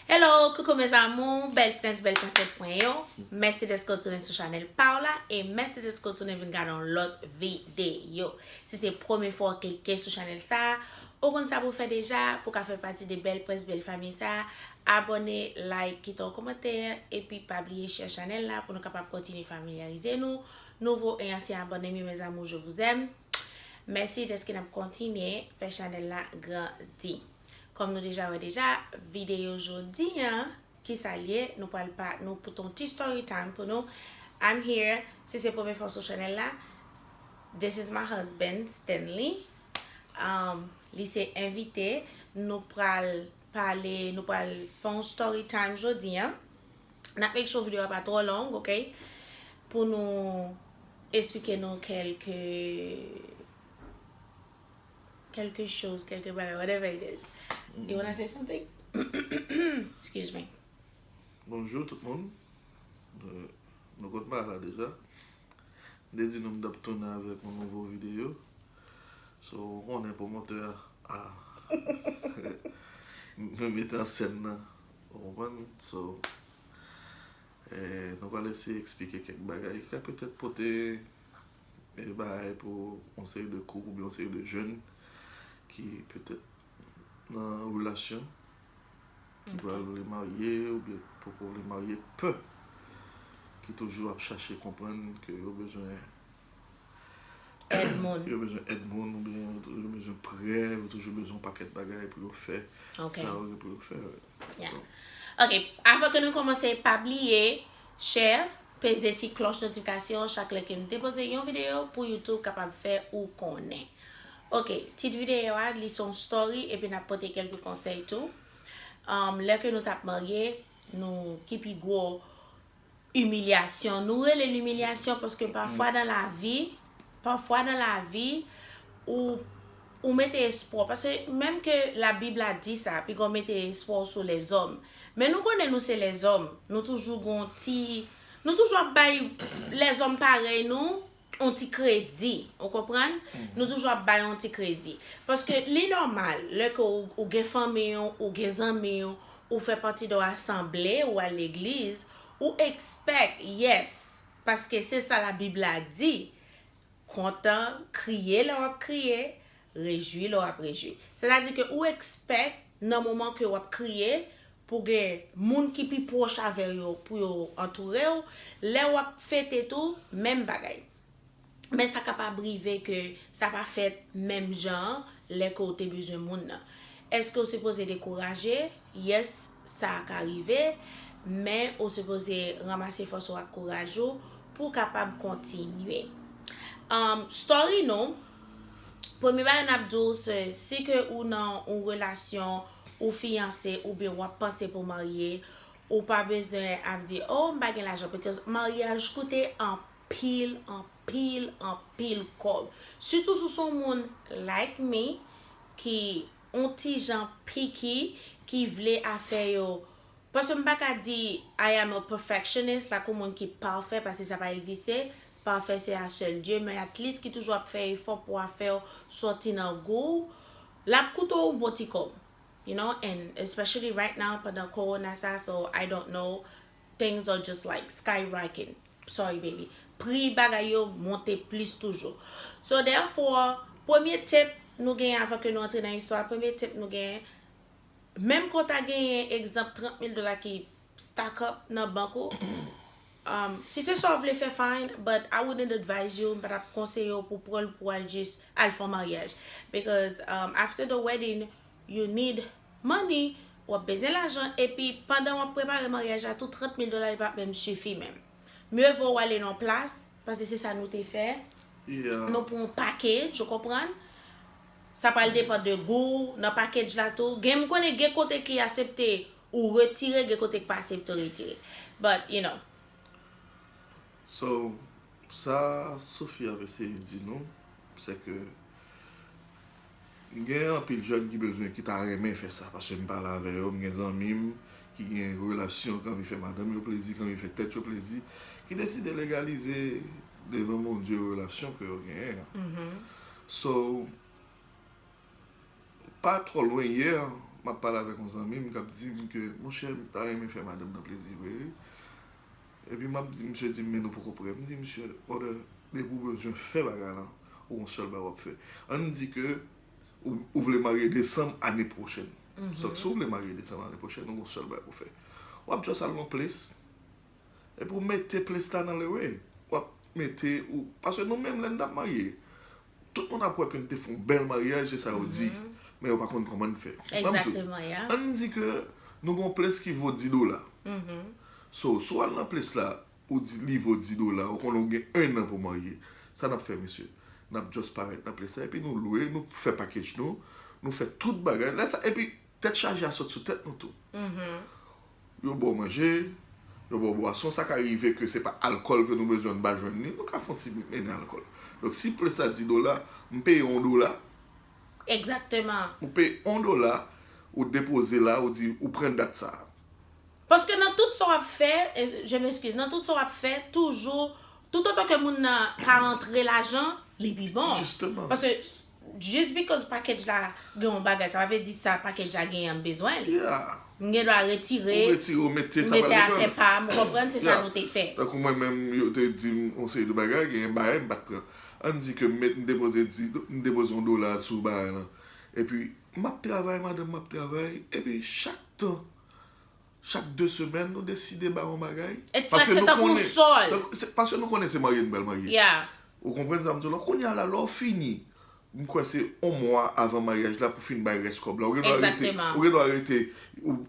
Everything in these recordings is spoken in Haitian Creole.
Hello coucou mes amours bèl prens bèl prensès mwen yo mèsi dèske w tounen sou chanèl pa w la e mèsi dèske w tounen vin gade yon lòt videyo si se premye fwa w klike sou chanèl sa ou konn sa pou w fè deja pou w ka fè pati de bèl prens bèl fanmi sa abòne like kite yon kòmantè epi pa bliye share chanèl la pou nou kapab kontinye familyarize nou nouvo e ansyen abòne m yo mes amours je vous aime mèsi dèske n ap kontinye fè chanèl la grandi. Kòm nou deja wè deja videyo jodi an kisa l ye nou pral pa nou pote yon ti story time pou nou I'm here si se premye fwa w sou chanèl la this is my husband Stanley um li se envite nou pral pale nou pral fè yon story time jodi an n ap make sure videyo a pa twò long ok pou nou esplike nou kèlke quelque chose, quelque bagay, whatever it is. You wanna say something? Excuse me. Bonjou tout moun. Nou konn pa la deja. M te di nou m t ap tounen avèk yon nouvo videyo. So, ou konnen pwomotè a m met an sèn nan. Ou konprann? So, nou pral eseye eksplike kèk bagay ki ka petèt pote Bèl bagay pou yon seri de koup oubyen yon seri de jèn ki petèt nan relasyon, ki pral vle marye oubyen ki poko vle marye, pè, ki toujou ap chache konprann ke yo bezwen èd moun, yo bezwen èd moun oubyen yo bezwen prè, yo toujou bezwen yon pakèt bagay pou yo fè sa yo gen pou yo fè. Yeah ok avan ke nou komanse pa bliye Share peze ti klòch notifikasyon chak lè kem depoze yon videyo pou YouTube kapab fè ou konnen ok tit videyo a li se yon story epi nap pote kelke konsèy tou lè ke nou tap marye nou ki pi gwo Imilyasyon. Nou rele l imilyasyon paske pafwa nan lavi, pafwa nan lavi, ou, ou mete espwa w, paske menm ke labib la di sa, pi gè w mete espwa w sou lèzòm, men nou konnen nou se lèzòm, nou toujou gen yon ti, nou toujou ap bay lèzòm parèy nou yon ti kredi, ou konprann, nou toujou ap bay yon ti kredi. Paske li nòmal, lè ke ou gen fanmi w, ou gen zanmi w, ou fè pati de yon asanble, ou al legliz, ou ekspèk, yes, paske se sa labib la di, kontan, kriye lè w ap kriye, Rejwi lè w ap rejwi. Sètadi ke ou ekspèk nan moman ke w ap kriye pou gen moun ki pi pwòch avè w yo pou yo antoure w. Lè w ap fete tou, menm bagay. Men sa kapab rive ke sa pa fèt menm jan an lè ke w te bezwen moun nan. Èske w sipoze dekouraje? Yes, sa ka rive. Men ou sipoze ranmase fòs ou ak kouraj ou pou w kapab kontinye. Story nou, Premye bagay nap di w se si ke ou nan yon relasyon ou fiyanse oubyen wap panse pou marye ou pa bezwen ap di oh m pa gen lajan because maryaj koute anpil anpil anpil kòb sitou si w se yon moun like me ki yon ti jan picky ki vle afè yo paske m pa ka di I am a perfectionist lakou moun ki pafè paske sa pa egziste Pafè se a sèl Dye men at least ki toujou ap fè efò pou afèw sòti nan gouw lap koute w ou bon ti kòb you know and especially right now pandan korona sa so I don't know things are just like sky rocking sorry baby pri bagay yo monte plis toujou so therefore premye tep nou genyen avan ke nou antre nan istwa premye tep nou genyen menm ke w ta genyen egzanp 30 mil dola ki stack up nan bank ou umm si se sa ou vle fè fine but I wouldn't advise you m pa tap konseye w pou pran l pou al jis al fè yon maryaj because umm after the wedding you need money wap bezwen lajan epi pandan wap prepare maryaj la tou 30 mil dola li pap menm sifi menm mye vo w ale nan yon plas paske se sa nou te fè nou pran yon package ou konprann sa pral depan de gou w nan package la tou gen m konnen gen kote ki asepte Ou retire gen kote k pa se pto retire but you know. So sa Sophie ap eseye di nou se ke gen anpil jèn ki bezwen ki ta renmen fè sa paske m pale avè yo m gen zanmi m ki gen relasyon ki anvi fè madanm yo plezi ki anvi fè tèt yo plezi ki deside legalize devan Bondye relasyon ke yo genyen an so Pa twò lwen, yè, m ap pale avèk yon zanmi m k ap di m ke, monchè, m ta renmen fè madanm nan plezi vre wi. Epi m ap di, misye di m, men nou poko prè. M di misye, brother, depi ou bezwen fè bagay lan, ou gon sèl bagay w ap fè. Ann di ke ou vle marye desanm ane pwochèn. Sot si w vle marye desanm ane pwochèn, ou gon sèl bagay pou w fè. W ap just al nan yon ples, Epi ou mete plis la nan lewe. Wap mete ou. Paske nou menm lè n tap marye. Tout moun ap wè ke n te fè yon bèl maryaj se sa yo di. Men yo pa konn kòman n fè. An n di ke nou gen yon plis ki vo 10 dola. So si w al nan plis la ou di li vo 10 dola. Ou konnen ou gen 1 an pou w marye. Sa nap fè mesye. Nap just parèt nan plis la. Epi nou lwe. Nou fè pakej nou. Nou fè tout bagay. Lè sa epi. Tèt chaje a sot sou tèt nou tou. Yo ba w manje, yo ba w bwason, sa ka rive ke se pa alkòl ke nou bezwen nou pa jwenn li, nou ka fon ti mennen alkòl. Donk si plis la di dola, m peye yon dola. Egzakteman. Ou peye yon dola, ou depoze la, ou di ou pran dat sa a. Paske nan tout sa w ap fè, je m'excuse, nan tout sa w ap fè, toujou, toutotan ke moun nan ka rantre lajan, li pi bon. Jisteman. Paske Just because package la gen yon bagay sa pa vle di sa package la genyen m bezwen l. M gen dwa retire, m mete afè pa m ou konprann se sa nou te fè. Tankou mwen menm yo te di m yon seri de bagay genyen bagay m pat pran. Ann di ke m met m depoze m depoze yon dola sou bagay lan epi m ap travay madanm m ap travay epi chak tan. Chak 2 semèn nou deside bay yon bagay. It's like se tankou yon sòl. Paske nou konnen se marye nou pral marye. Yeah. Ou konprann sa m di w la? Kounye a la, lè w fini, m kwè se yon mwa avan maryaj la pou w fin bay rès kòb la. Exactement. Ou gen dwa rete,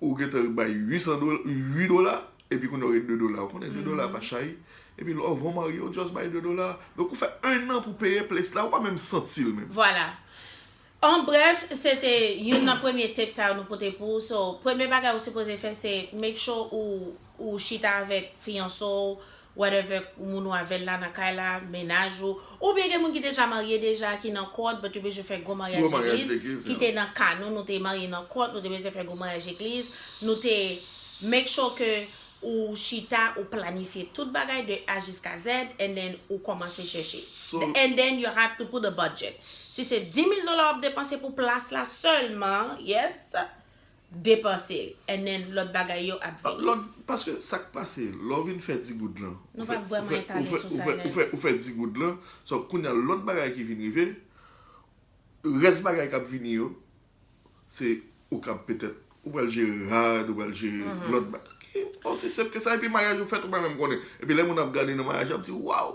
ou gen tan bay 8 dola, epi kounye a ou gen 2 dola. Ou konnen 2 dola pa chay. Epi lè w vin marye, ou just bay 2 dola. Donk ou fè 1 an pou w peye ples la, ou pa menm santi l menm. Voilà. En bref se te youn nan premye tape sa yo nou pote pou ou so premye bagay ou sipoze fè se make sure ou ou chita avèk fiyanse w whatever moun ou avèl la nan kay la mennaj ou oubyen gen moun ki deja marye deja ki nan kòd but yo bezwen fè gwo maryaj legliz ki te nan ka nou nou te marye nan kòd nou te bezwen fè gwo maryaj legliz nou te make sure ke Ou chita ou planifye tout bagay de A jiska Z and then ou kòmanse chèche. And then you have to put a budget. Si se 10,000 dola wap depanse pou plas la sèlman, yes, depanse l. And then lòt bagay yo ap vini. Lòt, paske sak pase, lè w vin fè 10 goud lan, Nou pa vrèman etale sou sa nèt. ou fè 10 goud lan, so kounya lòt bagay ki vin rive, rès bagay kap vini yo, se ou kap petèt, ou pral jere rad, ou pral jere lòt bagay. Osi senp ke sa, epi maryaj ou fèt ou pa menm konnen. Epi lè moun ap gade nan maryaj la, ap di waw!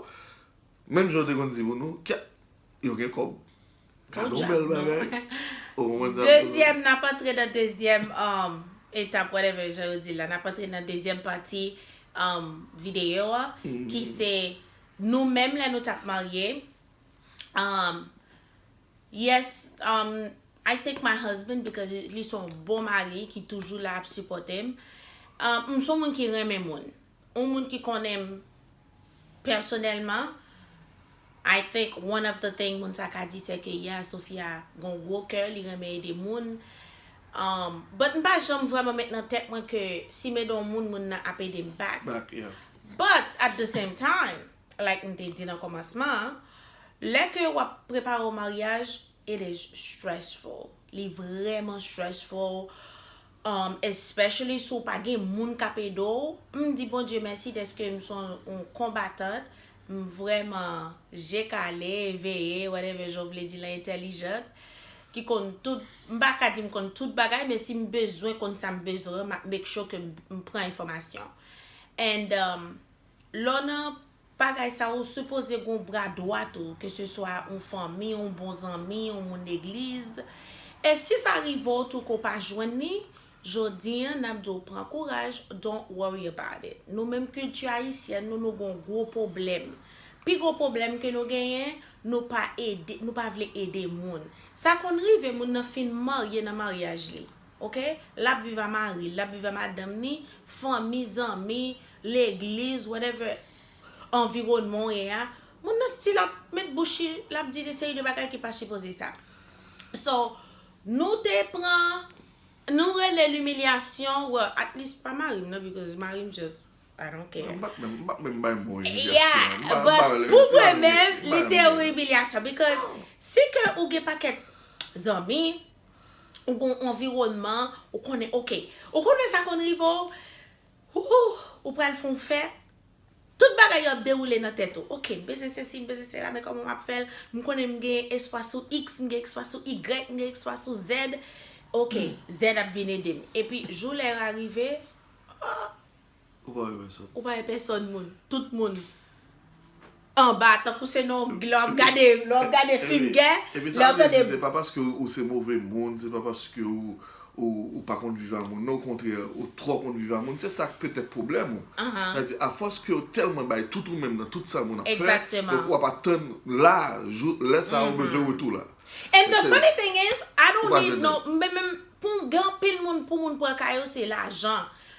Menm jan yo te konn di pou nou, kèt, yo gen kòb. Kado yon bèl bagay. Dezyèm, n ap antre nan dezyèm etap, whatever jan yo di l la, n ap antre nan dezyèm pati videyo a, ki se nou menm lè nou t ap marye, Yes um I thank my husband because li son bon mari ki toujou la ap sipòtem um m son moun ki renmen moun yon moun ki konnenm pèsonèlman I think one of the thing moun sa ka di se ke yeah Sophia gon gwo kè li renmen ede moun um but m pa janm vrèman met nan tèt mwen ke si m ede yon moun moun nan ap edem back but at the same time. like m te di nan komansman an, lè ke wap prepare yon maryaj it is stressful, li vrèman stressful um especially si w pa gen moun kap ede w, m di Bondye mèsi deske m son yon konbatant, m vrèman je kale, veye, whatever jan w vle di lan entelijant, ki konn tout, m pa ka di m konn tout bagay men si m bezwen konn sa m bezwen map make sure ke m pran enfòmasyon and um. Lè w nan bagay sa ou sipoze gen yon bra dwat ou ke se swa yon fanmi, yon bon zanmi, yon moun legliz. E si sa rive w tou ke w pa jwenn li, jodi an nap di w pran kouraj don't worry about it. Nou menm kilti ayisyèn nou nou gen yon gwo pwoblèm. Pi gwo pwoblèm ke nou genyen nou pa ede nou pa vle ede moun. Sa konn rive moun nan fin marye nan maryaj li. Ok lap viv a maril lap viv a madanm ni fanmi zanmi legliz whatever anvironman ou ye a moun nan still ap met bouch li lap di de seri de bagay ki pa sipoze sa so nou te pran nou rele l imilyasyon well at least pa marim nan because marim just I don't care mpa k menm bay mo imilyasyon yeah but pou mwen menm li te yon imilyasyon because si ke ou gen pakèt zanmi ou gen yon anviwònman, ou konnen ok. Ou konnen sa konn rive w, hoo, ou pral fè yon fèt, tout bagay yo ap dewoule nan tèt ou. Ok, m bezwen sesi, m bezwen sela, men kòman m ap fè l? M konnen m gen espwa sou iks, m gen espwa sou igrèk, m gen espwa sou zèd. Ok, zèd ap vin ede m. Epi, jou lè a rive, hoo, Ou pa wè pèsòn. Ou pa wè pèsòn moun. Tout moun anba tankou se nan yon lè wap gade lè wap gade fim gè. Epi sa vle di se pa paske ou se move moun, se pa paske ou pa konn viv a moun non okontrè ou twò konn viv a moun se sak petèt pwoblèm ou. Sa vle di a fòs ke ou tèlman bay tout ou menm nan tout sa moun ap fè donk wap atann la jou lè sa ou bezwen retou la. And the funny thing is I don't need no, mwen menm pou m gen anpil moun pou moun pran ka yo se lajan.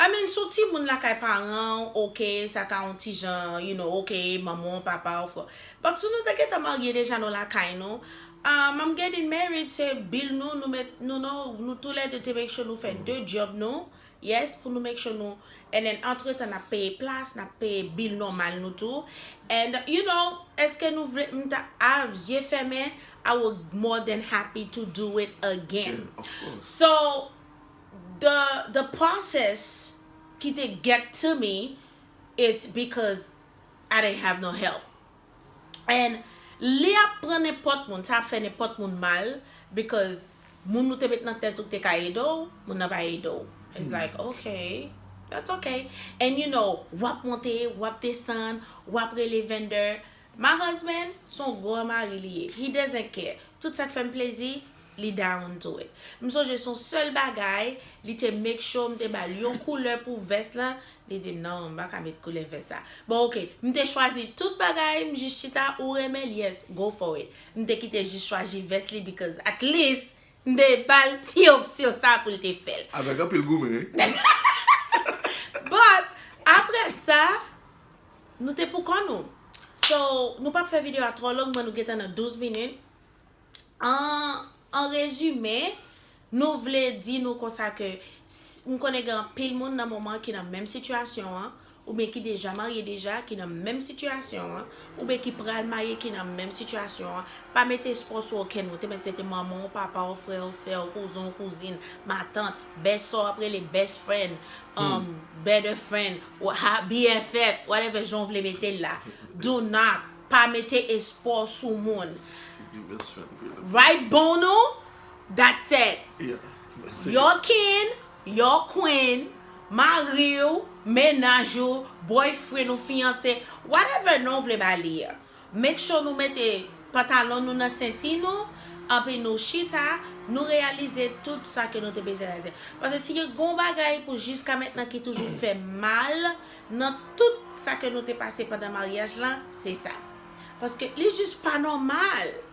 I mean si w timoun lakay paran w ok sa ka yon ti jan you know ok manman w papa w frè but si nou te gentan marye deja nou lakay nou um I'm getting married se bill nou nou met nou non nou tou lè 2 te make sure nou fè 2 job nou yes pou nou make sure nou and then antretan nap peye plas nap peye bill nòmal nou tou and you know eske nou vle m ta avk zye fèmen I will more than happy to do it again so The the process ki te get to me it's because I didn't have no help and li ap pran nenpòt moun sa ap fè nenpòt moun mal because moun ou te met nan tèt ou te ka ede w moun nan pa ede w it's like ok that's ok and you know wap monte wap desann wap rele vendè My husband son gran mari li ye he doesn't care tout sak fèm plezi li down to it m sonje son sèl bagay li te make sure m te bal yon koulè pou vès lan li dim nan m paka met koulè vès sa bon ok m te chwazi tout bagay m jis chita ou renmenl yes go for it m te kite jis chwaji vès li because at least M te bal ti opsyon sa poul te fèl. Avèk anpil goumen wi. But aprè sa Nou te pou kò nou. So Nou pap fè video a twò long m'en Nou gentan nan 12 minit En rezime Nou vle di nou konsa ke M konnen gen anpil moun nan moman ki nan menm sitiyasyon an oubyen ki deja marye deja ki nan menm sitiyasyon an, oubyen ki pral marye ki nan menm sitiyasyon an, pa mete espwa w sou okenn moun, te mèt se te manman w, papa w, frè w, sè w, kouzen w, kouzin, matant, best sa w ap rele best friend, um, better friend, wa ha, BFF, whatever jan w vle mete l la, do not, pa mete espwa w sou moun. Right Bonou? That said, your kin, Your queen, mari w, mennaj ou, boyfriend ou, fiyanse, whatever non w vle ba li a. Make sure nou mete pantalon nou nan senti nou, anpi nou chita, nou reyalize tout sa ke nou te bezwen reyalize. Paske si gen yon bagay pou jiska mentnan ki toujou fè mal nan tout sa ke nou te pase pandan maryaj la, se sa. Paske li jis pa nòmal!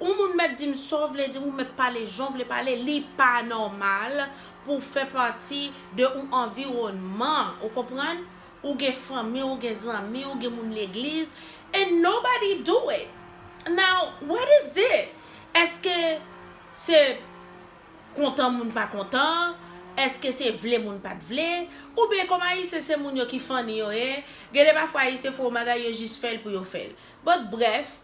Yon moun mèt dim saw vle di ou mèt pale janw vle pale li pa nòmal pouw fè pati de yon anviwònman ou konprann ou gen fanmi ou gen zanmi ou gen moun legliz and nobody do it now what is it eske se kontan moun pa kontan eske se vle moun pat vle ou byen kòm ayisyen se moun yo ki funny yo ye gen de pafwa ayisyen fè yon bagay yo jis fèl pou yo fèl but bref.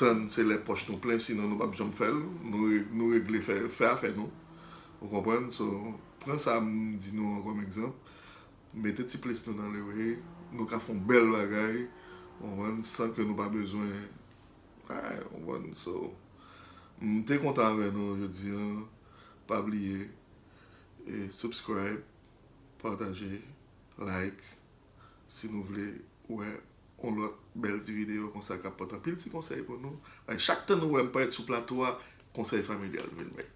tann se lè pòch nou plen sinon nou pap janm fèl nou regle fè afè nou ou konprann so pran sa m di nou an kòm egzanp mete ti plis nou nan lewe nou ka fon bèl bagay ou konprann san ke nou pa bezwen ay ou konprann so m te kontan avè nou jodi an pa bliye subscribe pataje like. Si nou vle wè yon lòt bèl ti videyo konsa kap pot anpil ti konsèy pou nou, bay chak tan nou wèm parèt sou plato a konsèy familyal m vin bay.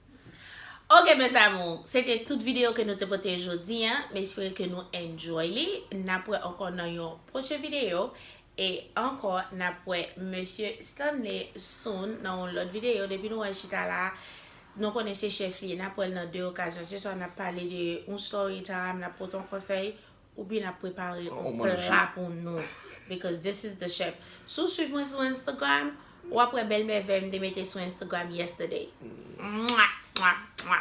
Ok mes amours, se te tout videyo ke nou te pote jodi an, m espere ke nou enjoy li, nap wè ankò nan yon pwochen videyo, e ankò nap wè Mesye Stanley soon nan yon lòt videyo, depi nou wèl chita la nou konnen se chèf li ye, nap wèl nan 2 okazyon, se swa nap pale de yon story time, nap pote yon konsèy, Ou byn ap prepare yon pla pou nou because this is the chef Si w swiv mwen sou Instagram Ou ap wè bèl mèvèy m te mete sou Instagram yesterday Mwa mwa mwa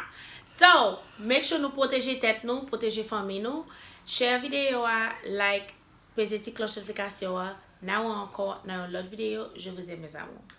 So make sure nou pwoteje tèt nou pwoteje fanmi nou Share videyo a like Peze ti klòch notifikasyon an N'a wè ankò nan yon lòt videyo Je vous aime mes amours.